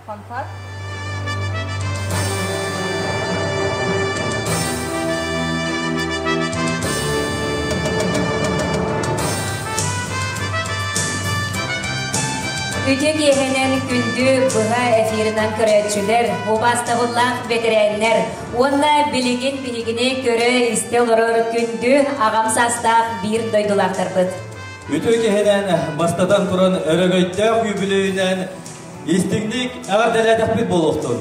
Фанфар. Үтүө киэһэнэн күндү быһа эфирынан көрөөччүлэр, убаастабыллаах бэтэрээннэр уонна билигин биһигини көрө-истэ олорор күндү аҕам саастаах биир дойдулаахтарбыт. Үтүө киһинэн, бастатан туран, өрөгөйдөөх үбүлүйүнэн Истиҥник эҕэрдэлээтэхпит буолуохтун!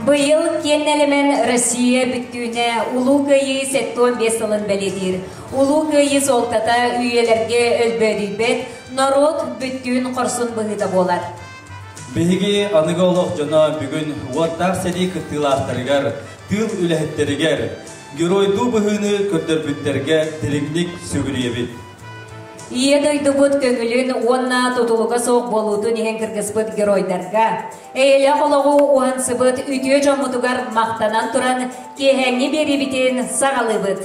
Быйыл киэн элэмэн Россия бүттүүнэ Улуу Кыайыы сэттэ уон биэс сылын бэлиэтиир. Улуу Кыайыы суолтата үйэлэргэ өлбөөдүйбэт норуот бүттүүн хорсун быһыыта буолар. Биһиги аныгы олох дьоно бүгүн уоттаах сэрии кыттыылаахтарыгар, тыыл үлэһиттэригэр, геройдуу быһыыны көрдөрбүттэргэ дириҥник сүгүрүйэбит. Ийэ дойдубут көҥүлүн уонна тутулуга суох буолуутун иһин кыргыспыт геройдарга, эйэлээх олоҕу уһансыбыт үтүө дьоммутугар махтанан туран киэһээҥҥи биэриибитин саҕалыыбыт.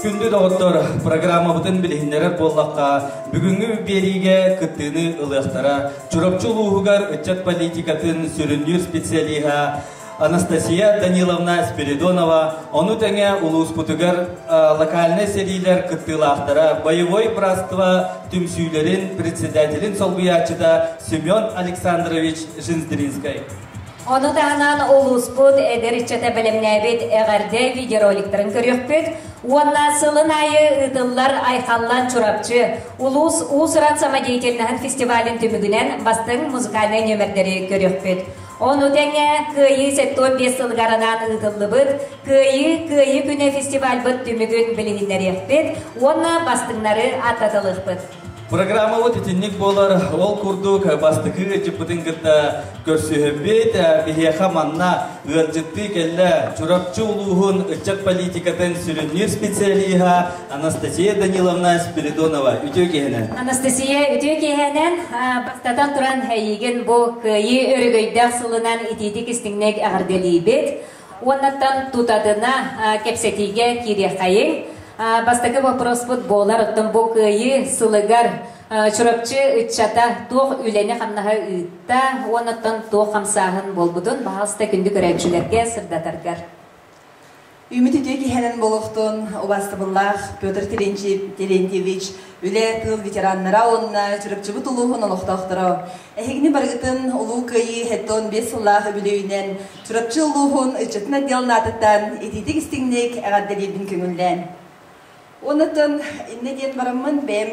Күндү доҕоттор, программабытын билиһиннэрэр буоллахха, бүгүҥҥү биэриигэ кыттыыны ылыахтара. Чурапчы улууһугар ыччат политикатын сүрүннүүр специалиһа Анастасия Даниловна Спиридонова, ону тэҥэ улууспутугар локальнай сэриилэр кыттыылаахтара, боевой братство түмсүүлэрин председателин солбуйааччыта Семен Александрович Женздринскай. Ону таһынан улууспут эдэр ыччата бэлэмнээбит эҕэрдэ видеороликтарын көрүөхпүт уонна сылын аайы ыытыллар Айхаллан Чурапчы улуус уус-уран самодеятельноһын фестивалин түмүгүнэн бастыҥ музыкальнай нүөмэрдэри көрүөхпүт. Ону тэҥэ Кыайыы сэттуон биэс сылыгар анаан ыытыллыбыт Кыайыы Кыайыы күнэ фестивальбыт түмүгүн билиһиннэриэхпит уонна бастыҥнары аттатылыахпыт. Программабыт итинник буолар ол курдук бастакы ыйдьыппытын кытта көрсүһэрбит биһиэхэ манна ыалдьыттыы кэллэ Чурапчы улууһун ыччат политикатын сүрүннүүр специалиһа Анастасия Даниловна Спиридонова үтүө киэһэнэн. Анастасия үтүө киэһэнэн бастатан туран эйигин бу кыайыы өрөгөйдөөх сылынан итиитик истиҥнэк эҕэрдэлиибит уоннаттан тутатына кэпсэтиигэ киириэххэйиҥ бастакы вопроспут буолар оттон бу кыайыы сылыгар Чурапчы ыччата туох үлэни-хамнаһы ыытта уоннаттан туох хамсааһын буолбутун баҕаста күндү көрөөччүлэргэ сырдатаргар Үүммүт үтүө киһинэн болуохтун убаастабыллаах Петр Терентьевич, үлэ тыл ветераннара уонна Чурапчыбыт улууһун олохтоохторо. Эһигини барыгытын улуу кыайыы хэттэ он биэс сыллаах үбүлүөйүнэн Чурапчы улууһун ыччатын отделын аатыттан итиитик истиҥник эҕэрдэлиирбин көҥүллээн. Онтон иннэ диэн бараммын бэйэм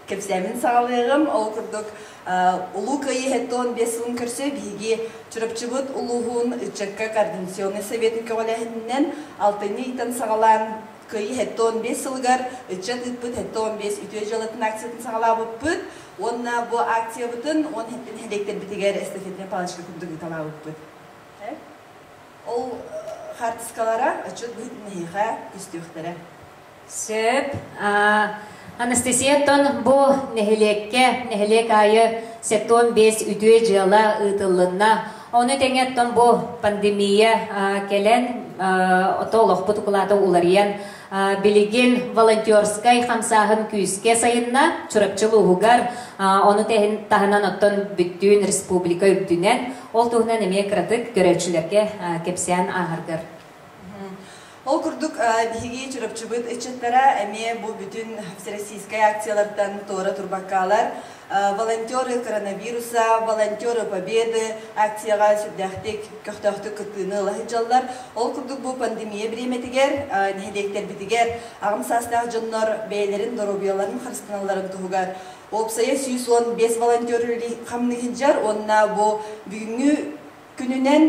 кэпсээмин саҕалыаҕым. Ол курдук, Улуу Кыайыыһыттан он биэс сылын көрсө биһиги Чурапчыбыт улууһун ыччакка координационнай сэбиэтин көҕүлээһининэн алтынньы ыйтан саҕалаан Кыайыыһыттан он биэс сылыгар ыччат ыыппыт Сэттэ он биэс үтүө дьыалатын акциятын саҕалаабыппыт уонна бу акциябытын он сэттин нэһилиэктэрбитигэр эстафетнай палочка курдук ыыталаабыппыт. Ол хаартыскалара отчет быһыытын эһиэхэ көстүөхтэрэ. Сөп. Анастасияттан бу нэһилиэккэ нэһилиэк аайы сектон бес үтүө дьыала ыытылынна. Ону тэҥэ оттон бу пандемия кэлэн ото олохпут укулаата уларыйан билигин волонтерскай хамсааһын күүскэ сайынна Чурапчы улууһугар ону таһынан оттон бүттүүн республика үрдүнэн Ол туһунан эмиэ кыратык көрөөччүлэргэ кэпсээн ааһаргар. Ол курдук, биһиги Чурапчыбыт ыччаттара эмиэ бу бүтүн всероссийскай акциялартан туора турбаккаалар. Волонтеры коронавируса, Волонтеры победы акцияҕа сүрдээхтик, көхтөөхтүк кыттыыны ыла сылдьаллар. Ол курдук бу пандемия бириэмэтигэр нэһилиэктэрбитигэр аҕам саастаах дьоннор бэйэлэрин доруобуйаларын харыстаналларын туһугар Уопсайа сүүс уон биэс волонтер хамныһыдьар уонна бу бүгүҥҥү күнүнэн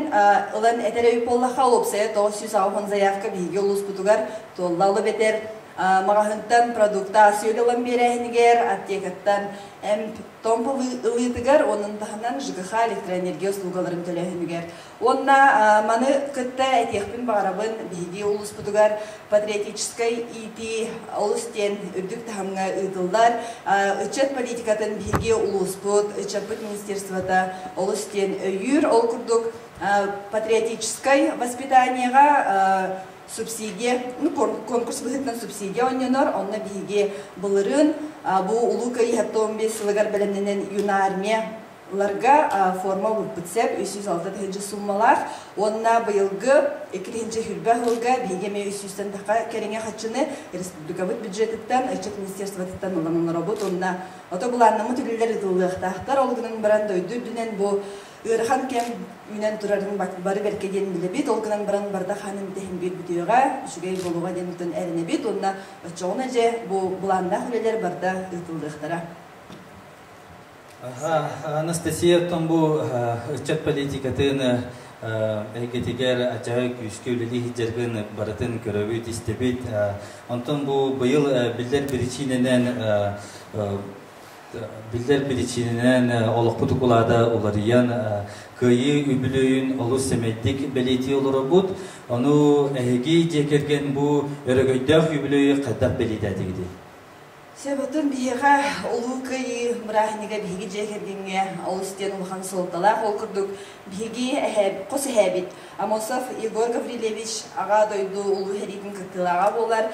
ылан этэр өй буоллахха, уопсайа тоҕус сүүс аҕыһын заявка биһиги улууспутугар туолла алып этэр маҕаһыынтан продукта сүөл ылан биэрээһинигэр, аптекаттан эмп томп ылыытыгар, оның таһынан ЖКХ электроэнергия услугаларын төлөөһүнүгэр Уонна маны кытта этиэхпин баҕарабын, биһиги улууспутугар патриотическай иитии олус диэн үрдүк таһымҥа ыытыллар. Ыччат политикатын биһиги улууспут, ыччаппыт министерствота олус диэн өйүүр. Ол курдук, патриотическай воспитаниеҕа субсидия, конкурс быһыытынан субсидия оонньонор. Онно биһиги былырыын, бу Улуу кыайыыһа тоом биэс сылыгар бэлэмнэнэн Юнармия Ыларга форма ылыппыт сөп, үс сүүс алта тыһыынча сууммалаах. Уонна быйылгы икки тыһыынча сүүрбэ ыһылга биһиги эмиэ үс сүүстэнтэххэ кэриҥэ харчыны республикабыт бюджетыттан, ыччат министерствотыттан ылан оноробут. Уонна ото былааннаммыт үлэлэр ыытыллыахтаахтар. Ол гынан баран дойду үрдүнэн бу ыарахан кэм үүнэн турарын бары бэркэ диэн билэбит. Ол гынан баран бардак хаанын итэһин биир бүтүөҕэ, үчүгэй буолуоҕа диэн тутан эрэнэбит. Уонна оччоҕуна дьэ бу былааннаах үлэлэр барда ыытыллыахтара. Анастасия Томбу ыччат политикатын эйгэтигэр адьаһай күүскэ үлэлии сылдьаргын барытын көрөбүт, истэбит. Онтон бу быйыл биллэр причинэнэн биллэр причинэнэн олохпут укулаада уларыйан кыайыы үбүлүйүн олус сэмэйдик бэлиэтии олоробут. Ону эһиги дьиэ кэргэн бу өрөгөйдөөх үбүлүй хайдах бэлиэтээтигитий? Сөбүтүн биһиэхэ Улуу Кыайыы бырааһынньыга биһиги дьиэ кэргэҥҥэ олус диэн улахан суолталаах. Ол курдук, биһиги хос эһээбит Амосов Егор Гаврильевич Аҕа дойду Улуу сэриитин кыттыылааҕа буолар.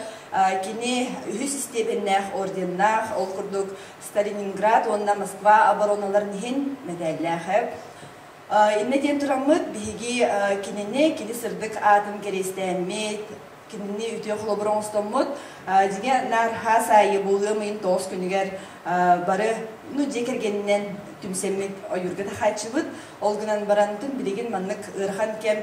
Кини үһүс истиэбэннээх орденнаах, ол курдук Сталининград уонна Москва оборуналарын иһин мэтээллээхэ. Иннэ диэн тураммыт биһиги кинини кини сырдык аатын кэриэстээммит Кинини үтүө холобур оҥостоммут. Дьиҥэ, наар хаас аайы буолуом ыйын тоҕус күнүгэр бары ну дьиэ кэргэнинэн түмсэммит ойуурга таһааччыбыт. Ол гынан баран тун билигин маннык ыарахан кэм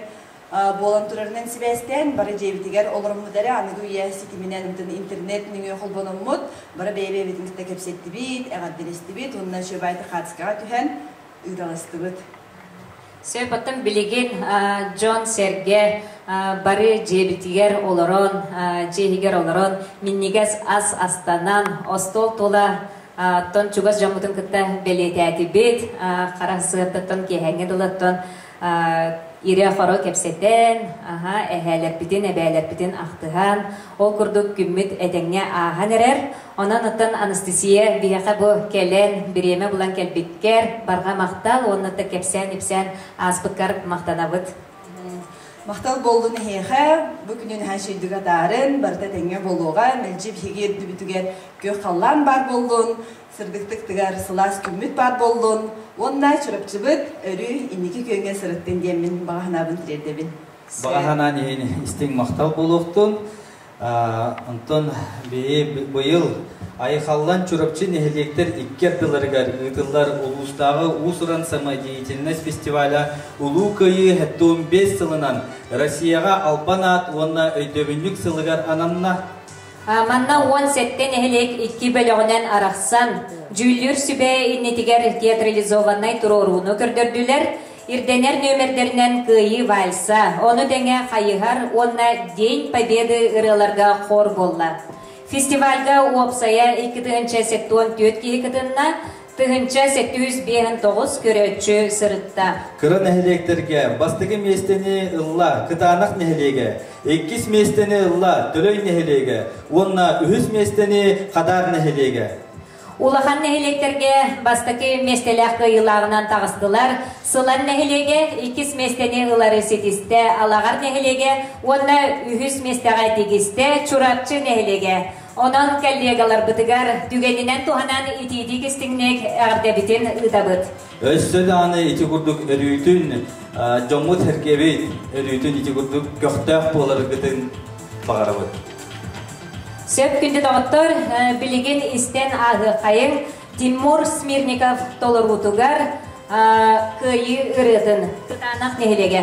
буолан турарынан сибээстээн бары дьиэбитигэр олороммут эрэ аныгы үйэ ситиминэн ымтын интернет нөҥүө холбономмут бары бэйэ-бэйэбитин кытта кэпсэттибит, эҕэрдэлэстибит уонна шөбаайта хаатыскаҕа түһэн ыыталастыбыт. Сөп, оттон билигин дьон-сэргэ бары дьиэбитигэр олорон, дьиэһигэр олорон минньигэс ас астанан, остуол тула оттон чугас дьоммутун кытта бэлиэтээтибит, хара сыаттыттан киэһээҥҥи дылыттан ирэ-хоро кэпсэтэн, аһа, эһээлэрбитин, эбээлэрбитин ахтыһан, ол курдук күммүт этэҥҥэ ааһан эрэр. Онон оттон Анастасия биһиэхэ бу кэлэн, бириэмэ булан кэлбиккэр барҕа махтал уонна да кэпсээн-ипсээн ааспыккар махтанабыт. Махтал буоллун эһиэхэ, бу күнү наһаа үчэйдик атаарын, барыта тэҥҥэ буолуоҕа, мэлдьи биһиги үрдүбүтүгэр күөх халлаан баар буоллун, сырдыктык тыгар сылаас күммүт баар буоллун уонна Чурапчыбыт өрүү инники күөҥҥэ сырыттын диэммин баҕа санаабын тириэрдэбин. Баҕа санаан иһин истиҥ махтал буолуохтун. Онтон быйыл Айхаллан Чурапчы нэһилиэктэр икки ардыларыгар ыытыллар улуустааҕы уус-уран самодеятельность фестиваля Улуу Кыайыы туом биэс сылынан Россияҕа албан аат уонна өйдөбүнньүк сылыгар ананна. Манна уон сэттэ нэһилиэк икки бөлөҕүнэн арахсан, дьүүллүүр сүбэ иннитигэр театрализованнай туруорууну көрдөрдүлэр, Ирдэнэр нүөмэрдэринэн Кыайыы вальса, ону тэҥэ Хайыһар уонна День Победы ырыаларга хор буолла. Фестивальга уопсайа икки тыһыынча сеппион түөрт киһи кытынна, тыһыынча сэтүүс биэһинтоҕус көрөөччү сырытта. Кыра нэһилиэктэргэ бастакы миэстэни ылла Кытаанах нэһилиэгэ, иккис миэстэни ылла Төлөй нэһилиэгэ уонна үһүс миэстэни Хадаар нэһилиэгэ. Улахан нэһилиэктэргэ бастакы миэстэлээх кыайыылааҕынан таҕыстылар. Сылан нэһилиэгэ иккис миэстэни ылары ситистэ, Алаҕар нэһилиэгэ уонна үһүс миэстэҕэ тигистэ Чурапчы нэһилиэгэ. Онон коллегаларбытыгар түгэнинэн туһанан итиитик истиҥник эҕэрдэбитин ыытабыт. Өссө даҕаны ити курдук өрүүтүн дьоммут сэргэбит өрүүтүн ити курдук көхтөөх буоларгытын баҕарабыт. Сөп күндү доҕоттор, билигин истэн ааһыаххайыҥ Тимур Смирников толоруутугар Кыайыы ырыатын Кытаанах нэһилиэгэ.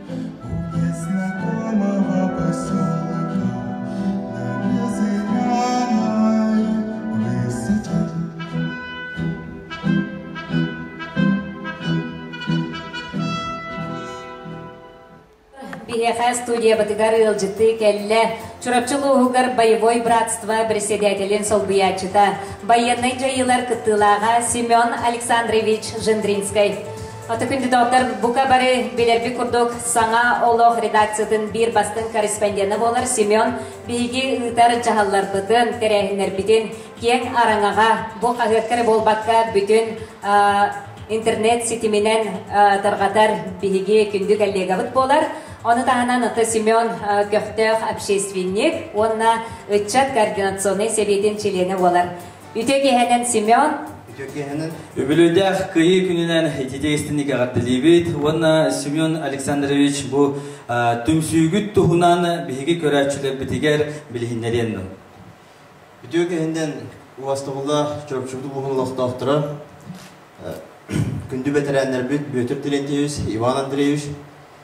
Биһиэхэ студиябытыгар ыалдьытыы кэллэ. Чурапчы улууһугар Боевой братство председателин солбуйааччыта, байыаннай дьайыылар кыттыылааҕа Семен Александрович Жендринскай. Ото кандидаттар бука бары билэрбит курдук саҥа олох редакциятын биир бастыҥ корреспондена буолар Семен биһиги ыытар дьаһалларбытын, тэрээһиннэрбитин киэҥ араҥаҕа бу хаһыакка эрэ буолбакка бүтүн интернет ситиминэн тарҕатар биһиги күндү коллегабыт буолар. Ону таһынан аты Семен көхтөөх общественник уонна ыччат координационнай сэбиэтин чилиэнэ буолар. Үтүөкэһэнэн Семен. Үтүөкэһэнэн. Үбүлүйдээх кыйыы күнүнэн ититэ истини кэҕэртэлиибит уонна Семен Александрович бу түмсүүгүт туһунан биһиги көрөөччүлэрбитигэр билиһиннэриэн Үтүөкэһиннэн уостабыллаах Чурапчыбыт улууһун олохтоохторо, күндү бэтэрээннэрбит Бүөтүр Терентьевич, Иван Андреевич,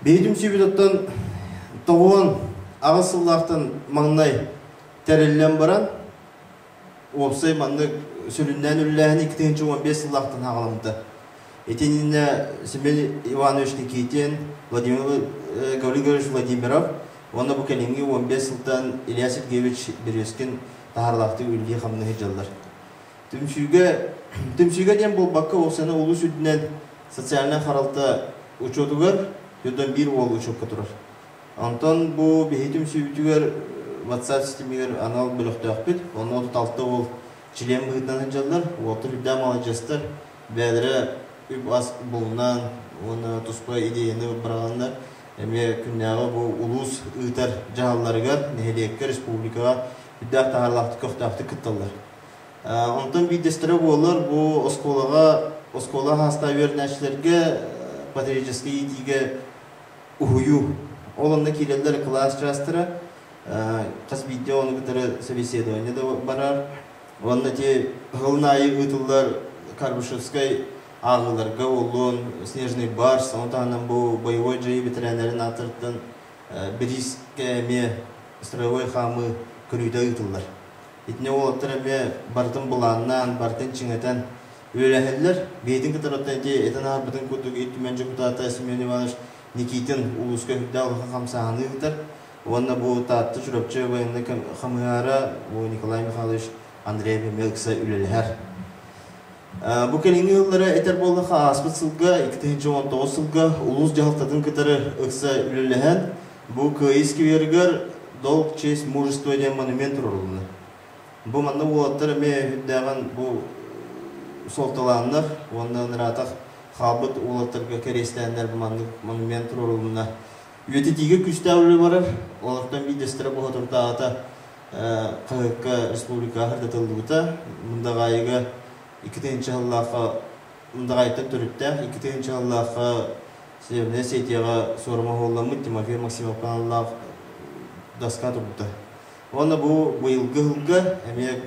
Бэйэтин сүбүтүттэн тоҕуон аҕыс сыллаахтан маҥнай тэриллэн баран, уопсай маннык сүрүннээн үллээһин икки тыһыынча уон биэс сыллаахтан ааҕаламмыта. Итиннэ Семен Иванович Никитин, Владимир Григорьевич Владимиров уонна бу кэлиҥҥи уон биэс сылтан Илья Сергеевич Березкин таһаарылаахтык үлэлии-хамнаһы дьаллар. Түмсүүгэ, түмсүүгэ диэн буолбакка, ол саны улуус үрдүнэн социальнай харалта учуотугар түөрт уон биир уол учуокка турар. Онтон бу биһи түмсүүбүтүгэр WhatsApp системигэр анал бөлөхтөөхпүт. Онно отут алта уол член быһыытынан сылдьаллар, уолтар үрдээх маладьыастар, бэйэлэрэ үп-ас булунан уонна туспа идеяны быраҕаллар. Эмиэ күннээҕи бу улуус ыытар дьаһалларыгар, нэһилиэккэ, республикаҕа үрдээх таһаарлаахтык көхтөөхтүк кытталлар. Онтон биирдэстэрэ буоллар, бу оскуолаҕа, оскуола саастаах үөрэнээччилэргэ патриотическай иитиигэ уһуйуу. Ол онно киирэллэр кылаас чаастара. Хас биирдии ону кытары собеседование да барар. Уонна ити сылын аайы ыытыллар Карбышевскай ааҕыыларга буоллун, Снежный барс, ону таһынан бу боевой дьайыы бэтэрээннэрин ааттарыттан бириискэ эмиэ строевой хаамыы көрүүтэ ыытыллар. Итини уолаттар эмиэ барытын былааннаан, барытын чиҥэтэн үөрээһэллэр. Бэйэтин кытары оттон ити этэн аһарбытын курдук Ил Түмэн дьокутаата Семен Иванович Никитин улууска сүрдээх улахан хамсааһыны ыытар уонна бу Таатта Чурапчы байыаннай хамыһаара Николай Михайлович Андреев эмиэ ыкса үлэлэһэр. Бу кэлиҥҥи ыыллара этэр буоллахха ааспыт сылга 2019 сылга улуус дьаһалтатын кытары ыкса үлэлэһэн Бу Кыайыы скверыгар Долг, честь, мужество диэн монумент туруоруллар. Бу манна уолаттар эмиэ үрдээҕин бу суолталааннар уонна ыраатах хаалбыт уолаттарга кэриэстээннэр бу маннык монумент туруорулунна. Үйэтитиигэ күүстээх үлэ барар, олортон биирдэстэрэ Боһотурдааҕыта хаһыакка республикаһар датыллыбыта. Мындаҕаайыга икки тыһыынча сыллаахха Мындаҕаайыттан төрүттээх икки тыһыынча сыллаахха Северная Сетияҕа суорумоһуолламмыт Тимофей Максимовка аналлаах даска турбута. Уонна бу быйылгы сылга эмиэ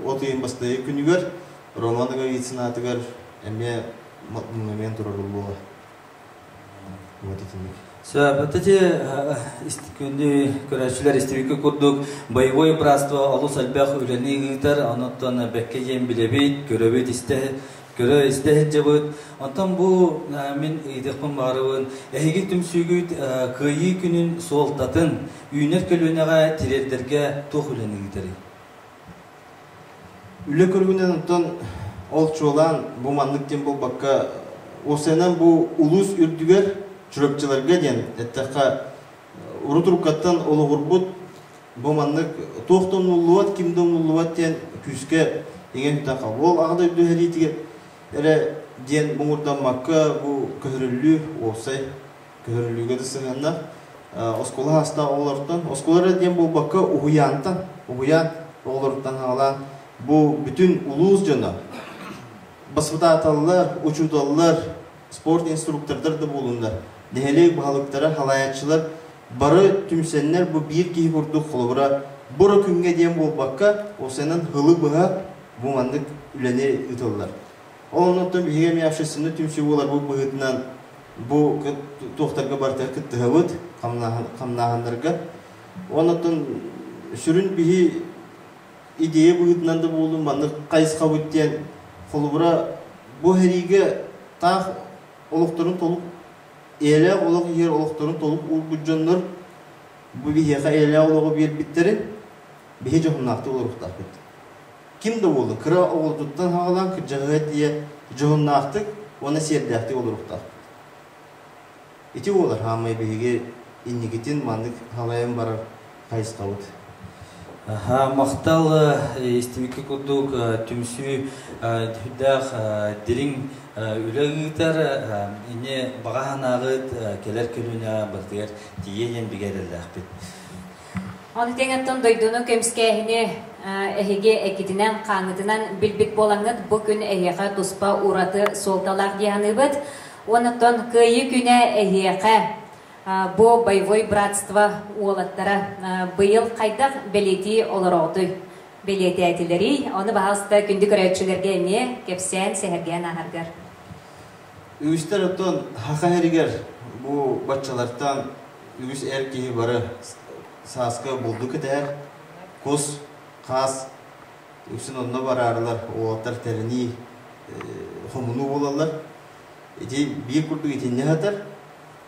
от ыйын бастайы күнүгэр Роман Иговицын аатыгар эмиэ монумент турар буола. Вот итинник. Вот эти күндү көрөөччүлэр истибикке курдук боевое братство олус элбэх үлэни ыытар, оноттон бэкке диэн билэбит, көрөбүт истэ көрө-истэ сылдьабыт. Оттон бу мин ыйытыахпын баарыбын. Эһиги түмсүүгүт Кыайыы күнүн суолтатын үүнэр көлүөнэҕэ тириэрдэргэ туох үлэни ыытарый? Үлэ көрүҥүнэн ол чуолаан бу маннык диэн буолбакка, осенан бу улуус үрдүгэр Чурапчыларга диэн эттэххэ, урут уруккаттан олоҕурбут Бу маннык туох да умуллубат, ким да умуллубат диэн күүскэ иҥэн Уол аҕа дойду сэриитигэр эрэ диэн муҥурдаммакка бу көһөрүллүү уопсай көһөрүллүүгэ да сыһыаннаах. Оскуола саастаах оҕолортон, оскуола эрэ диэн буолбакка, уһуйаантан, уһуйаан оҕолоруттан саҕалаан бу бүтүн улуус дьоно, баспытааталлар, учууталлар спорт инструктордар да буолуннар, нэһилиэк баһылыктара, салайааччылар бары түмсэннэр бу биир киһи курдук холобура бу күҥҥэ диэн буолбакка, уопсайынан һылы быһа бу маннык үлэни ыытыллар. Ол оннуттан биһиги эмиэ общественнай түмсүү буоларбыт быһыытынан бу туохтарга барыта кыттыһабыт хамнааһыннарга. Оннуттан сүрүн биһи идея быһыытынан да буоллун маннык хайысхабыт диэн холобура бу эһэриигэ таах олохторун толук эйэлээх олох иһэр олохторун толук уурбут дьоннор бу биһиэхэ эйэлээх олоҕу биэрбиттэрин биһи дьоһуннаахтык олоруохтаахпыт ким да буолла кыра оҕолордуттан хаҕалаан кырдьаҕаһы тиийэ дьоһуннаахтык уонна сиэрдээхтик олоруохтаахпыт Ити буолар, хааммай биһиги инникитин маннык халайан барар хайысхабыт. Махтал истибикки курдук түмсүү сүрдээх дириҥ үлэ ыытар ини баҕа санааҕыт кэлэр көлүөнэ барытыгар тиийэ диэн бигэ эрэллээхпит Ону тэҥэттэн дойдуну көмүскээһини эһиги эккитинэн-хааҥҥытынан билбит буолаҥҥыт, бу күн эһиэхэ туспа ураты суолталаах дии саныыбыт. Онуттан Кыайыы күнэ эһиэхэ бу боевой братство уолаттара быйыл хайдах бэлиэтии олороҕутуй? Бэлиэтээтилэрий? Ону баҕаста күндү көрөөччүлэргэ эмиэ кэпсээн, сэһэргээн ааһаргар. Үгүстэр оттон Хаха эригэр бу баччалартан үгүс эр киһи бары сааска булду кэтэһэр, кус, хаас үксүн онно бараарылар, уолаттар тэринии, хомунуу буолаллар. Ити биир курдук итиннэ сатар.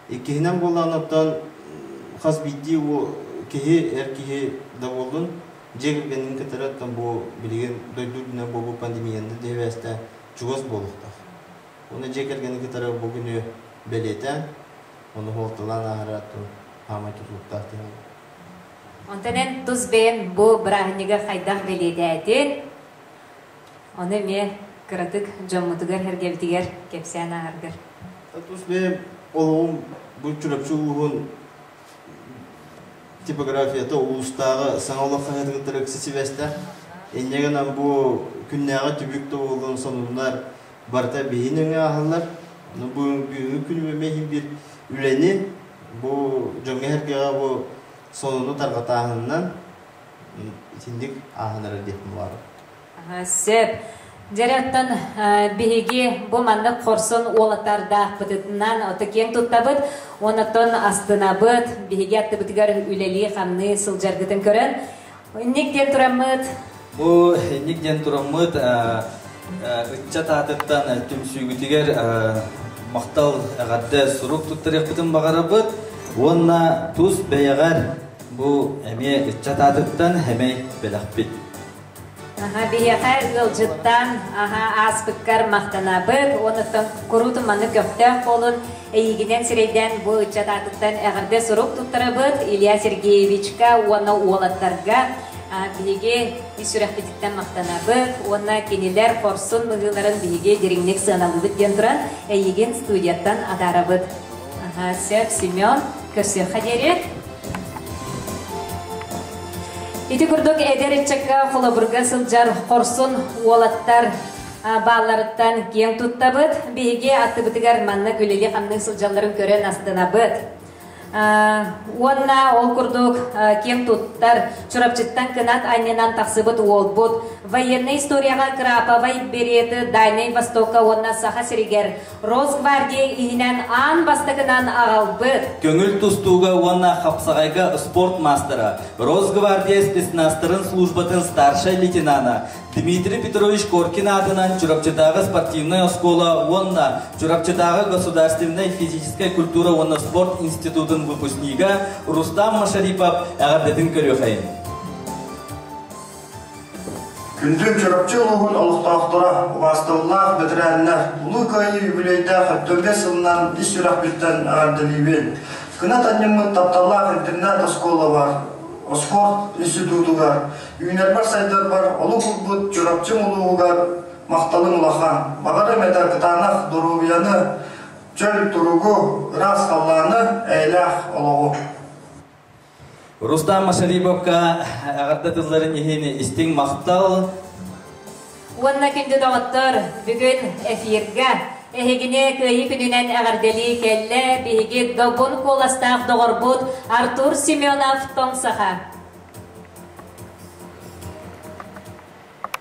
Иккиһинэн буоллаҕына оттон хас биирдии бу киһи, эр киһи да буоллун, дьиэ кэргэнин кытары оттон бу билигин дойду үрдүнэн буолбут пандемияннар диэбээстээн чугас буолуохтаах. Уонна дьиэ кэргэни кытары бу күнү бэлиэтээн, ону суолталаан ааһара оттон саамай тутулуктаах диэн буолар. Онтон эн тус бэйэм бу бырааһынньыгы хайдах бэлиэтээтин, ону эмиэ кыратык дьоммутугар, эргэбитигэр кэпсээн ааҕаргар. Тус бэйэм олоҕум бу Чурапчы улууһун типографията улуустааҕы саҥа олох хаһыатыгыттан ыкса сибээстээх. Инньэ гынан бу күннээҕи түбүк тобулун сонуннар барыта биһин өҥө ааһаллар. Бүгүҥҥү күнү мэһин биир үлэни бу дьоҥҥо эргэҕэ бу сонуну тарҕатааһынынан итинник ааһан эрэр диэх буолар. Сөп. Дьэ, оттон биһиги бу маннык хорсон уолатардаахпытытынан оту киэҥ туттабыт уонна астынабыт, биһиги аттыбытыгар үлэлии-хамныы сылдьаргытын көрөн, инник диэн тураммыт. Бу инник диэн тураммыт ыччат аатыттан түмсүүгүтүгэр махтал эҕэрдэ сурук туттарыахпытын баҕарабыт уонна тус бэйэҕэр бу эмиэ ыччат аатыттан эмэй бэлэхпит. Аха, биһиэхэ ыалдьыттан аха ааспыккар махтанабыт. Онуттан куруутун маннык көхтөөх буолун эйигинэн сирэйдээн бу ыччат аатыттан эҕэрдэ сурук туттарабыт Илья Сергеевичка уонна уолаттарга биһиги сүрэхпититтэн махтанабыт уонна кинилэр хорсун быһыыларын биһиги дириҥник сыаналыыбыт диэн туран эйигин студияттан атаарабыт. Сөп, Семен, көрсүөххэ диэри. Ити курдук эдэр ыччакка холобурга сылдьар хорсун уолаттар баалларыттан киэҥ туттабыт. Биһиги аттыбытыгар манна үлэлии-хамныы сылдьалларын көрөн астынабыт. Уонна ол курдук киэҥ туттар Чурапчыттан кынат анньынан тахсыбыт уолбут военная историяҕа краповай береты Дальнай Востокка уонна Саха сиригэр Росгвардия иһинэн аан бастакынан аҕалбыт. Көҥүл тустууга уонна хапсаҕайга спорт маастара, Росгвардия спецназтарын службатын старшай лейтенана Дмитрий Петрович Коркин аатынан Чурапчытааҕы спортивнай оскуола уонна Чурапчытааҕы государственнай физическэй культура уонна спорт институтун выпускнига Рустам Машарипов эҕэрдэтин көрүөхэйин. Күндүн Чурапчы улууһун олохтоохторо, убаастыллаах бэтэрээннэр, Улуу Кыайыы үбүлүөйдээх өттүргэс сылынан ис сүрэхпиттэн эҕэрдэлиибин! Кынат анньыммыт тапталлаах интернат-оскуолабар, Оскуорт институтугар, үүнэрбэр-сайдарбар олох урбут Чурапчым улууһугар махталым улахан. Баҕарым этэ кытаанах доруобуйаны, чөл туругу, ыраас халлааны, эйэлээх олоҕу. Рустам Масалибовка эҕэрдэ тылларын иһин истиҥ махтал. Уонна күндү доҕоттор, бүгүн эфиргэ эһигини Кыайыы күнүнэн эҕэрдэлии кэллэ биһиги добун куоластаах доҕорбут Артур Семенов-Тоҥсаха.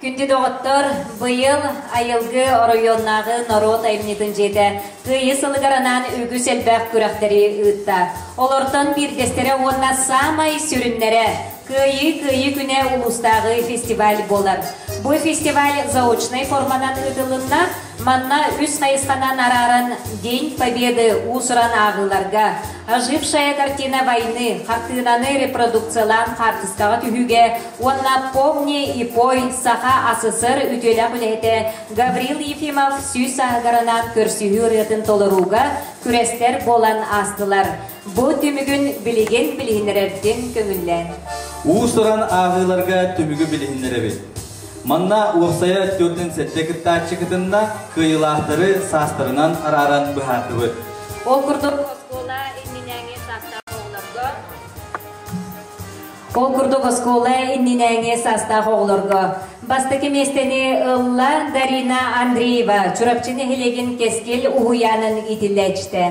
Күндү доҕоттор, быйыл айылгы оройуоннааҕы норуот айымньытын дьиэтэ Кыайыы сылыгар анаан үгүс элбэх күрэхтэри ыытта. Олортон биирдэстэрэ уонна саамай сүрүннэрэ Кыайыы Кыайыы күнэ улуустааҕы фестиваль буолар. Бу фестиваль заочнай форманан ыытылынна, Манна үс хайысханан арааран День Победы уус-уран ааҕыыларга, Ожившая картина войны хартыынаны репродукциялаан хаартыскаҕа түһүүгэ уонна Помни и пой Саха СССР үтүөлээх үлэһитэ Гаврил Ефимов сүүс сааһыгаранаан көрсүһүү ырыатын толорууга күрэстэр буолан аастылар. Бу түмүгүн билигин билиһиннэрэргин көҥүллээн. Уус-уран ааҕыыларга түмүгү билиһиннэрэбит. Манна уопсайа төрдүн сэттэ кыттааччы кытынна, кыайыылаахтары саастарынан арааран быһаардыбыт. Ол курдук, оскуола иннинээҥи саастаах оҕолорго Ол курдук оскуола иннинээҥи саастаах оҕолорго бастакы миэстэни ылла Дарина Андреева Чурапчы нэһилиэгин Кэскил уһуйаанын иитиллээччитэ.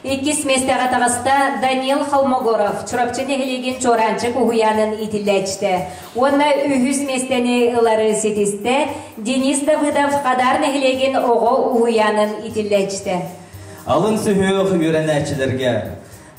Иккис миэстэҕэ таҕыста Данил Холмогоров, Чурапчы нэһилиэгин Чуораанчык уһуйаанын иитиллээччитэ. Уонна үһүс миэстэни ылары ситистэ Денис Давыдов Хадаар нэһилиэгин оҕо уһуйаанын иитиллээччитэ. Алын сүһүөх үөрэнээччилэргэ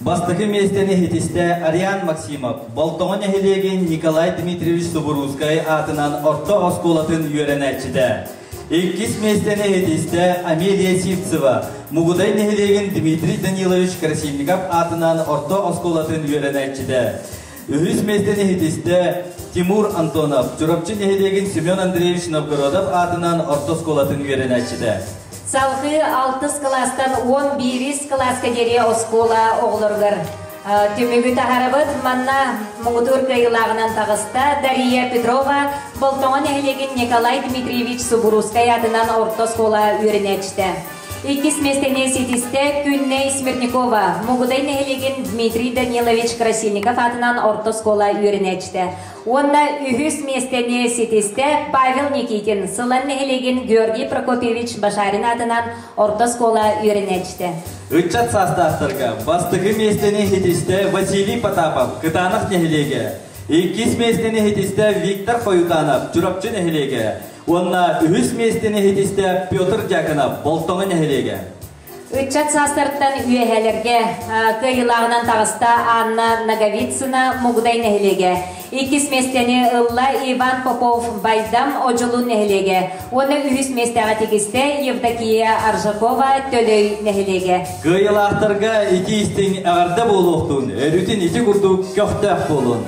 бастакы миэстэни иһитистэ Ариан Максимов, Болтоҕо нэһилиэгин Николай Дмитриевич Субуруускай аатынан орто оскуолатын үөрэнээччитэ. Иккис миэстэни иһитистэ Амелия Сивцева, Мугудай нэһилиэгин Дмитрий Данилович Красильников аатынан орто оскуолатын үөрэнээччитэ. Үһүс миэстэни иһитистэ Тимур Антонов, Чурапчы нэһилиэгин Семен Андреевич Новгородов аатынан орто оскуолатын үөрэнээччитэ. Салгыы алтыс кылаастан уон биирис кылааска диэри оскуола оҕолоругар Түмүгү таһарабыт манна муҥутуур кыайылааҕынан таҕыста Дария Петрова Болтоҕо нэһилиэгин Николай Дмитриевич Субуруускай аатынан орто оскуола үөрэнээччитэ. Иккис миэстэни ситистэ Күннэй Смирникова Мугудай нэһилиэгин Дмитрий Данилович Красильников аатынан орто оскуола үөрэнээччитэ. Уонна үһүс миэстэни ситистэ Павел Никитин Сылан нэһилиэгин Георгий Прокопьевич Башарин аатынан орто оскуола үөрэнээччитэ. Ыччат саастаахтарга бастакы миэстэни иһитистэ Василий Потапов Кытаанах нэһилиэгэ, иккис миэстэни иһитистэ Виктор Хойутанов Чурапчы нэһилиэгэ уонна үһүс миэстэни иһитистэ Петр Дьяконов Болтоҥо нэһилиэгэ. Ыччат саастарыттан үөһээлэргэ кыайыылааҕынан таҕыста Анна Наговицына Мугудай нэһилиэгэ, Иккис миэстэни ылла Иван Попов-Байдам Одьулун нэһилиэгэ уонна үһүс миэстэҕэ тигистэ Евдокия Аржакова Төлөй нэһилиэгэ. Кыайылаахтарга ити истиҥ эҕэрдэ буолуохтун, өрүтүн ити курдук көхтөөх буолун.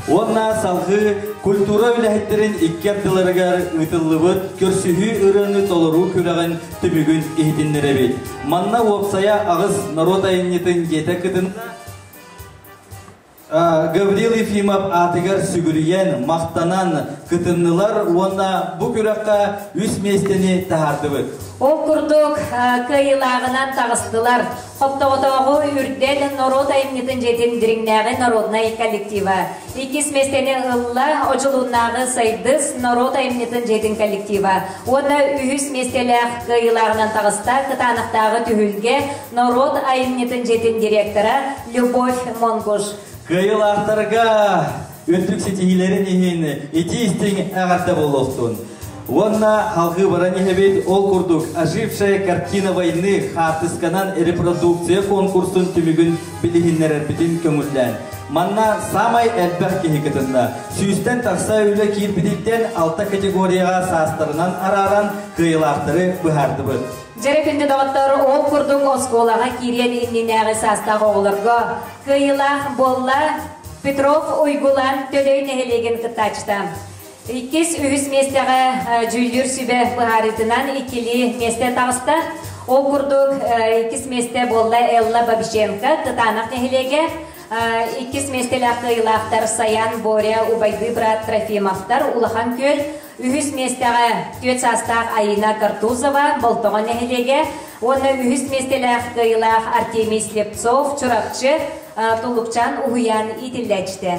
Уонна салгыы культура үлэһиттэрин икки ардыларыгар ыытыллыбыт көрсүһүү ырыаны толоруу күрэҕин түбүгүн иһитиннэрэбит. Манна уопсайа аҕыс норуот айымньытын дьиэтэ кытынна Гаврил Ефимов аатыгар сүгүрүйэн, махтанан кытыннылар уонна бу күрэххэ үс миэстэни таһаардыбыт. Ол курдук кыайыылааҕынан таҕыстылар. Хоптоҕотооҕу үрдэн норуот айымньытын дьиэтин дириҥнээҕи народнай коллектива. Иккис миэстэни ылла Одьулууннааҕы Сайдыс норуот айымньытын дьиэтин коллектива. Уонна үһүс миэстэлээх кыайыылааҕынан таҕыста Кытаанахтааҕы түһүлгэ норуот айымньытын дьиэтин директора Любовь Монгуш. Кыайылаахтарга үрдүк ситиһиилэрин иһин итии-истиҥ эҕэрдэ буолуохтун! Уонна алгыыбаран иһэбит ол курдук «Ожившая картина войны» хаартысканан репродукция конкурсун түмүгүн билиһиннэрэрбитин көҥүллээн. Манна саамай элбэх киһи кытынна. Сүүстэн тахса үлэ киирбититтэн алта категорияҕа саастарынан арааран кыайылаахтары быһаардыбыт. Дьэрэпинди доҕоттор ол курдук оскуолаҕа киириэн иннинээҕи саастаах оҕолорго кыайыылаах буолла Петров Уйгулан Төлей нэһилиэгин кыттааччыта. Иккис үһүс миэстэҕэ дьүүллүүр сүбэ быһаарыытынан иккилии миэстэ таҕыста. Ол курдук иккис миэстэ буолла Элла Бабиченко Тытанах нэһилиэгэ, иккис миэстэлээх кыайыылаахтар Саян Боря, Убайдыы быраат Трофимовтар Улахан Күөл, Үһүс миэстэҕэ түөрт саастаах Айыына Картузова Болтоҕо нэһилиэгэ уонна үһүс миэстэлээх кыайыылаах Артемий Слепцов Чурапчы, Тулукчаан уһуйаан иитиллээччитэ.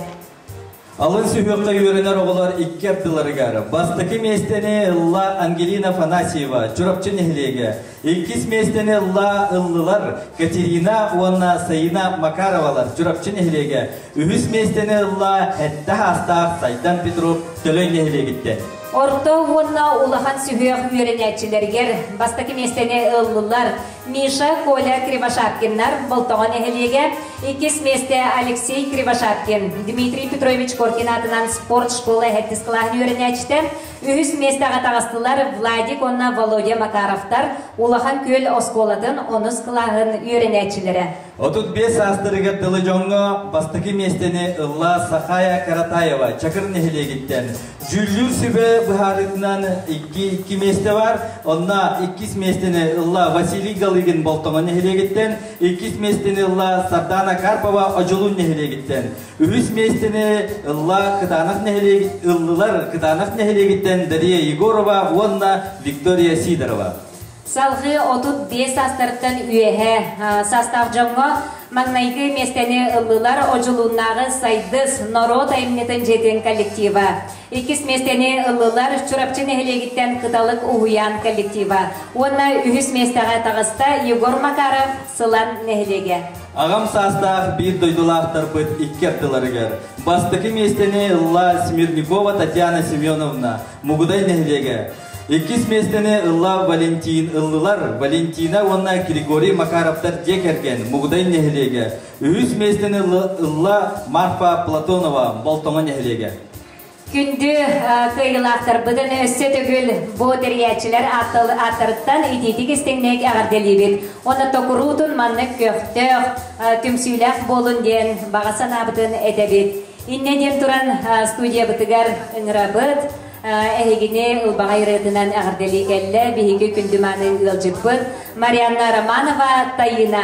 Алын сүһүөххэ үөрэнэр оҕолор икки ардыларыгар бастакы миэстэни ылла Ангелина Афанасьева Чурапчы нэһилиэгэ Иккис миэстэни ылла, ыллылар Катерина уонна Саина Макаровалар Чурапчы нэһилиэгэ. Үһүс миэстэни ылла сэттэ саастаах Сайдан Петров Төлөй нэһилиэгиттэн. Орто уонна улахан сүһүөх үөрэнээччилэригэр бастакы миэстэни ыллылар Миша, Коля Кривошапкиннар Болтоҕо нэһилиэгэ, иккис миэстэ Алексей Кривошапкин, Дмитрий Петрович Коркин аатынан спорт школа эһэрдис кылааһын үөрэнээччитэ, Үһүс миэстэҕэ таҕыстылар Владик уонна Володя Макаровтар Улахан Күөл оскуолатын онус кылааһын үөрэнээччилэрэ. Отут биэс саастарыгар тылы дьоҥҥо бастакы миэстэни ылла Сахая Каратаева Чакыр нэһилиэгиттэн. Дьүүллүүр сүбэ быһаарыытынан икки миэстэ бар, онно иккис миэстэни ылла Василий Галыгин Болтоҥо нэһилиэгиттэн, иккис миэстэни ылла Сардана Карпова Одьулун нэһилиэгиттэн. Үһүс миэстэни ылла Кытанов нэһилиэк ыллылар Кытанов нэһилиэгиттэн Дария Егорова уонна Виктория Сидорова. Салгыы отут биэс саастарыттан үөһэ састаах дьоҥҥо маҥнайгы миэстэни ыллылар Одьулууннааҕы Сайдыс норуот айымньытын дьиэтин коллектива. Иккис миэстэни ыллылар Чурапчы нэһилиэгиттэн Кыталык уһуйаан коллектива уонна үһүс миэстэҕэ таҕыста Егор Макаров Сылан нэһилиэгэ. Аҕам саастаах биир дойдулаахтарбыт икки ардыларыгар бастакы миэстэни ылла Смирникова Татьяна Семеновна Мугудай нэһилиэгэ, иккис миэстэни ылла Валентин ыллылар Валентина уонна Григорий Макаровтар дьиэ кэргэн Мугудай нэһилиэгэ, Үһүс миэстэни ылла Марфа Платонова Болтоҥо нэһилиэгэ. Күндү кыайыылаахтарбытын өссө төгүл бу тэрийээччилэр ааттарыттан итиитик истиҥник эҕэрдэлиибит. Онно куруутун маннык көхтөөх, түмсүүлээх буолун диэн баҕа санаабытын этэбит. Иннэ диэн туран студиябытыгар ыҥырабыт. Эһигини ылбаҕай ырыатынан эҕэрдэлии кэллэ биһиги күндү мааны ыалдьыппыт Марианна Романова Таина.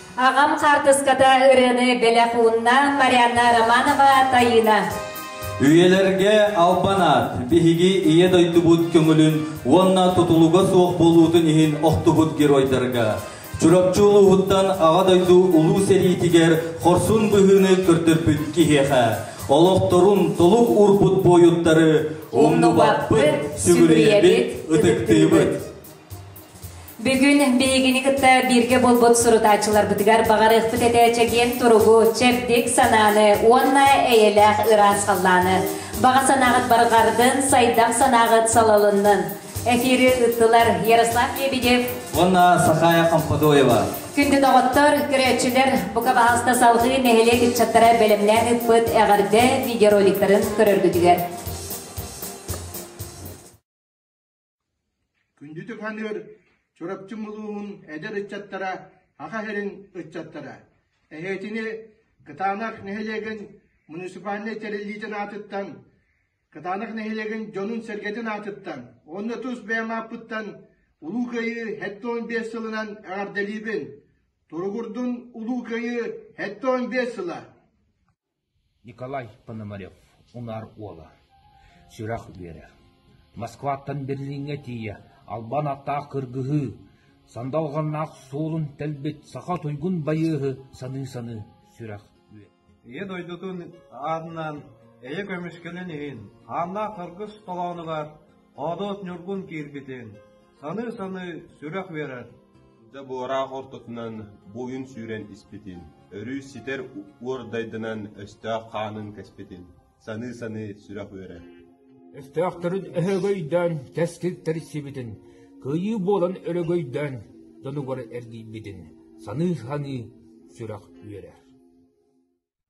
Аҕам хаартыската ырыаны бэлэх уунна Марианна Романова тайыына. Үйэлэргэ албан аат биһиги ийэ дойдубут көҥүлүн уонна тутулуга суох буолуутун иһин охтубут геройдарга, Чурапчы улууһуттан Аҕа дойду Улуу сэриитигэр хорсун быһыыны көрдөрбүт киһиэхэ олохторун толук уурбут буойуттары умнубаппыт, сүгүрүйэбит, ытыктыыбыт. Бүгүн биһигини кытта бииргэ буолбут сурутааччыларбытыгар баҕарыахпыт этэ чэгиэн туругу, чэбдик санааны уонна эйэлээх ыраас халлааны. Баҕа санааҕыт барҕардын, сайдах санааҕыт салалыннын. Эфири ыттылар Ярослав Лебедев уонна Сахая Хампадоева. Күндү доҕоттор, көрөөччүлэр, бука баһаста салҕыы нэһилиэк ыччаттара бэлэмнээн ыыппыт эҕэрдэ видеороликтарын көрөргүтүгэр. Күндү туһаныыр Чурапчы улууһун эдэр ыччаттара, аҕа иһэрин ыччаттара, эһиэтини Кытаанах нэһилиэгин муниципальнай тэриллиитин аатыттан, Кытаанах нэһилиэгин дьонун-сэргэтин аатыттан уонна тус бэйэм ааппыттан Улуу Кыайыы сэттэ уон биэс сылынан эҕэрдэлиибин! Туругурдун Улуу Кыайыы сэттэ уон биэс сыла! Николай Пономарев унаар уола, сүрэх үөрэр. Москваттан Берлиҥҥэ тиийэ албан аттаах кыргыһыы, сандалҕаннаах суолун тэлбит саха туйгун байыаһы саныы-саныы сүрэх үөрэр. Ийэ дойдутун аатынан эйэ көмүскэнэн иһин хааннаах харгыс толоонугар Хоодоот Ньургун киирбитин, Саныы-саныы сүрэх биэрэр. Да буораах ортотунан буойун сүүрэн испитин, өрүү ситэр уордайданан өстөөх хаанын кэспитин, саныы-саныы сүрэх үөрэр. Өстөөхтөрүн өһөгөйдөөн тэскил тэрissибитин, кыйыы буолан өлөгөйдөөн донугар эргийбитин саныы-саныы сүрэх үөрэр.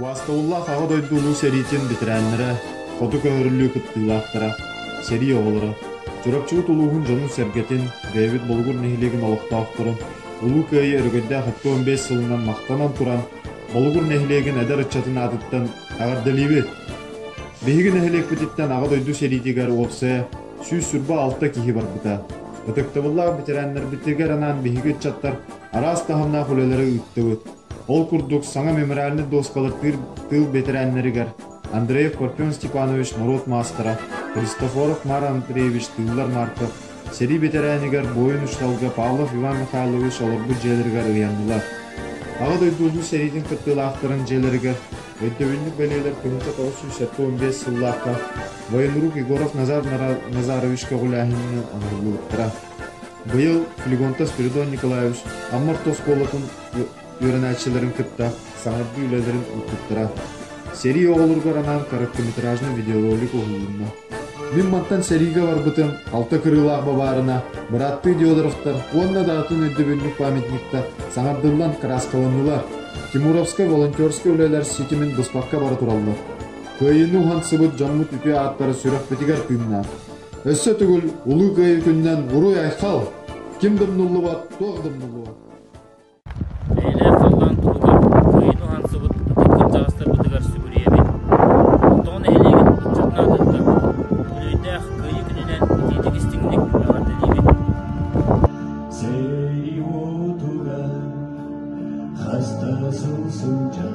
Уоскуллаах Аҕа дойду Улуу сэриитин бэтэрээннэрэ, хоту көһөрүллүү кыттыылаахтара, сэрии оҕолоро, Чурапчыбыт улууһун дьонун-сэргэтин, бэйэбит Болугур нэһилиэгин олохтоохторун Улуу Кыайыы өрөгөйдөөх икки сылынан махтанан туран, Болугур нэһилиэгин эдэр ыччатын аатыттан эҕэрдэлиибит! Биһиги нэһилиэкпититтэн Аҕа дойду сэриитигэр уопсайа сүүс сырба алта киһи барбыта. Ытыктабыллаах бэтэрээннэрбитигэр анаан биһиги ыччаттар араас таһымнаах үлэлэри ыыттыбыт. Ол курдук саҥа мемориальнай дуоскалар тыыл бэтэрээннэригэр Андреев Парфен Степанович норуот маастара, Христофоров Мара Андреевич тыыллар Марка, сэрии бэтэрээнигэр буойун учууталга Павлов Иван Михайлович олорбут дьиэлэригэр ыйаннылар. Аҕа дойду улуу сэриитин кыттыылаахтарын дьиэлэригэр Өйдөбүнньүк бэлиэлэр күнүтэ тоҕус сүүс сэттэ уон биэс сыллаахха военрук Егоров Назар Назарович көҕүлээһининэн оҥоһуллубуттара. Быйыл Флегонта Спиридон Николаевич Аммар оскуолатын үөрэнээччилэрин кытта саҥардыы үлэлэрин ыыппыттара. Сэрии оҕолоругар анаан короткометражный видеоролик уһулунна. Мин мантан сэриигэ барбытым, алта кырыылаах бабаарына, бырааттыы Диодоровтар уонна да атын өйдөбүнньүк памятниктар саҥардыллан кырааскаланнылар. Тимуровскай волонтерскай үлэлэр ситимин быспакка бара тураллар. Кыайыыны уһансыбыт дьоммут үтүө ааттара сүрэхпитигэр тыыннаах. Өссө түгүл Улуу Кыайыы күнүнэн буруй-айхал! Ким да умнуллубат, туох да умнуллубат. Бэйэлээх халлаан туһугар кыайан уһансыбыт ытык кырдьаҕастарбытыгар сүгүрүйэбит. Тоҕо нэһилиэгин ыччатын аатыттан үбүлүөйдээх Кыайыы күнүнэн итиитик-истиҥник эҕэрдэлиибит! Сэрии уотугар хаста сыл сылдьан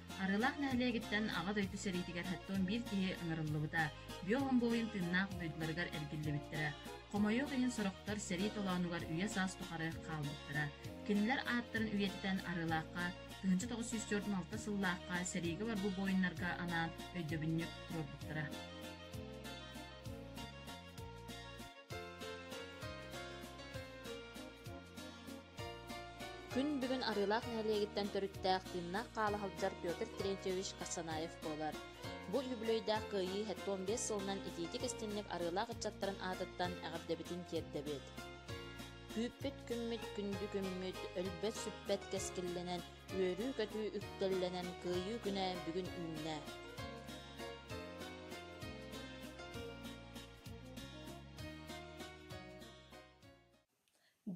Арыылаах нэһилиэгиттэн Аҕа дойду сэриитигэр сэттион биир киһи ыҥырыллыбыта, бүө хомбуойун тыыннаах дойдуларыгар эргиллибиттэрэ. Хомойуох иһин сорохтор сэрии толоонугар үйэ-саас тухары хаалбыттара. Кинилэр ааттарын үйэтитэн Арыылаахха, 1904-алта сыллаахха сэриигэ барбыт буойуннарга анаан өйдөбүнньүк туруорбуттара. Күн бүгүн Арыылаах нэһилиэгиттэн төрүттээх тыыннаах хаалаһалдьар Петр Терентьевич Карсанаев буолар. Бу үбүлүөйдээх кыайыы хэттон биэс сылынан итиитик-истинник арыылаах ыччаттарын аатыттан эҕэрдэбитин тиэрдэбит. Күүппүт-күммүт күндү күммүт, өлбөт-сүппэт кэскиллэнэн, үөрүү-көтүү үктэллэнэн кыайыы күнэ бүгүн үүннэ.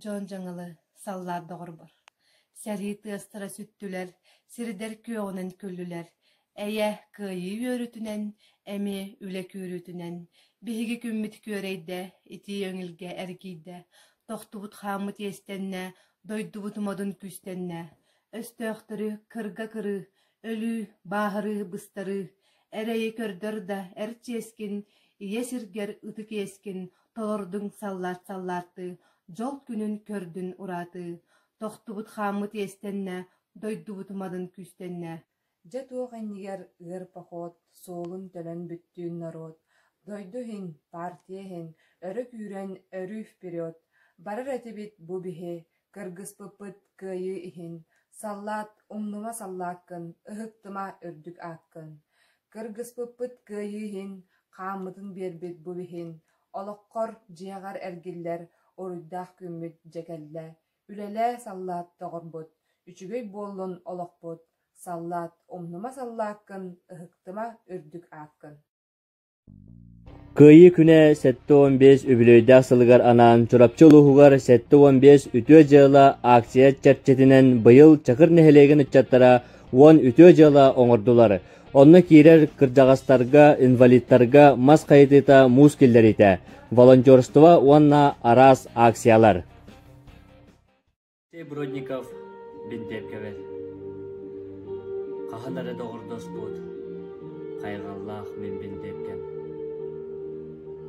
Дьон дьаҥылы саллаат доҕорбор, сэрии тыастара сүттүлэр, сирдэр күөҕүнэн күллүлэр, эйэ кыайыы үөрүүтүнэн, эмиэ үлэ күүрүүтүнэн, биһиги күммүт күөрэйдэ, итии өҥүлгэ эргийдэ, тохтубут хааммыт иэстэннэ, дойдубут модун күүстэннэ, Өстөөхтөрү кырга кырыы, өлүү, бааһырыы быстарыы, эрэйи көрдөр да эр чиэскин, ийэ сиргэр ытык иэскин толордуҥ саллаат-саллааттыы, дьол күнүн көрдүн ураатыы, тохтубут хааммыт иэстэннэ, дойдубут уматын күүстэннэ. Дьэ туох иннигэр ыар поход, суолун төлөн бүттүүн норуот, дойду иһин, партия иһин, өрө күүрэн өрүү вперед, барар этибит бу биһи, кыргыспыппыт кыайыы иһин, саллаат, умнума саллааккын, ыһыктыма үрдүк ааккын, кыргыспыппыт кыайыы иһин, хааммытын биэрбит бу биһин, олоххор, дьиэҕэр эргиллэр уруйдаах күммүт дьэ кэллэ, Үлэлээ, саллаат, доҕорбут, үчүгэй буоллун олохпут, саллаат, умнума саллааккын, ыһыктыма үрдүк ааккын Кыайыы күнэ сэттэ уон биэс үбүлүөйдээх сылыгар анаан Чурапчы улууһугар сэттэ уон биэс үтүө дьыала ааксыйа чэрчитинэн быйыл Чакыр нэһилиэгин ыччаттара уон үтүө дьыала оҥордулар. Онно киирэр кырдьаҕастарга, инвалидтарга мас хайытыыта муус киллэриитэ, волонтерство уонна араас ааксыйалар. Ити Бродников биндэм кэбэр. Хаһан эрэ доҕордоспут хайҕаллаах мин биндэмкэм.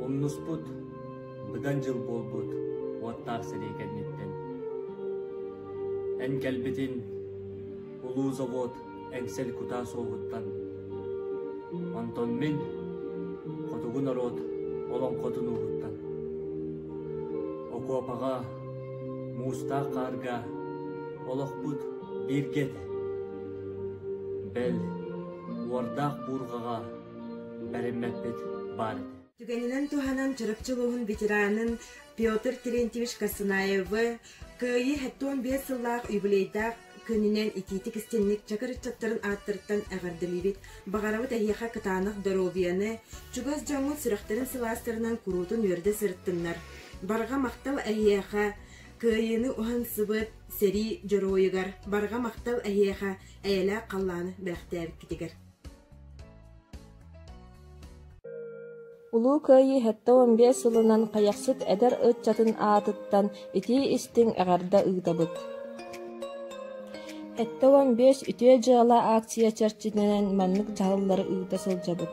Умнуспут быдан дьыл буолбут уоттаах сэрии кэнниттэн. Эн кэлбитин улуу завод эҥсэл кутаа суоһуттан онтон мин хотугу норуот олоҥхотун ууһуттан окуопаҕа муустаах хаарга олохпут бииргэ этэ бэл уордаах буурҕаҕа бэриммэппит баар этэ түгэнинэн туһанан Чурапчы улууһун ветеранын Петр Терентьевич Косынаевы кыайыы хэттон биэс сыллаах юбилейдаах күнүнэн итиитик-истиҥник чакыр ыччаттарын ааттарыттан эҕэрдэлиибит, баҕарабыт эһиэхэ кытаанах доруобуйаны, чугас дьоҥҥут сүрэхтэрин сылаастарынан куруутун үөрдэ сырыттыннар. Барҕа махтал эһиэхэ Кыайыыны уһансыбыт сэрии дьоруойугар, барҕа махтал эһиэхэ эйэлээх халлааны бэлэхтээбиккитигэр. Улуу Кыайыы сэттэ уон биэс сылынан Хайахсыт эдэр ыччатын аатыттан итии-истиҥ эҕэрдэ ыытабыт! Сэттэ уон биэс Үтүө дьыала аакция чэрчитинэн маннык дьаһаллары ыыта сылдьабыт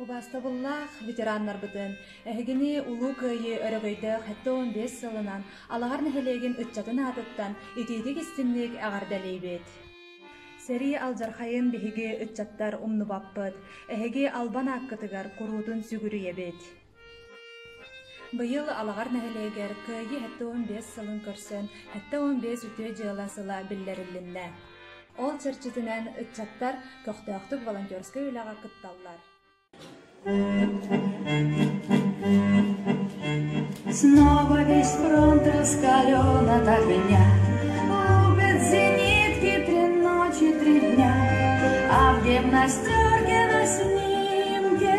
Убаастабыллаах ветераннарбытын! Эһигини Улуу Кыайыы өрөгөйдөөх сэттэ уон биэс сылынан Алаһар нэһилиэгин ыччатын аатыттан итиитик-истиҥник эҕэрдэлиибит! Сэрии алдьархайын биһиги ыччаттар умнубаппыт. Эһиги албан ааккытыгар куруутун сүгүрүйэбит. Быйыл Алаҕар нэһилиэгэр Кыайыы сэттэ уон биэс сылын көрсөн сэттэ уон биэс үтүө дьыала сыла биллэриллиннэ. Ол чэрчитинэн ыччаттар көхтөөхтүк волонтерскай үлэҕэ кытталлар. Снова весь фронт раскален от огня, Рубят зенитки при ночи три дня, А в гимнастерке на снимке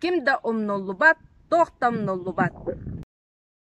Ким да умнуллубат, туох да умнуллубат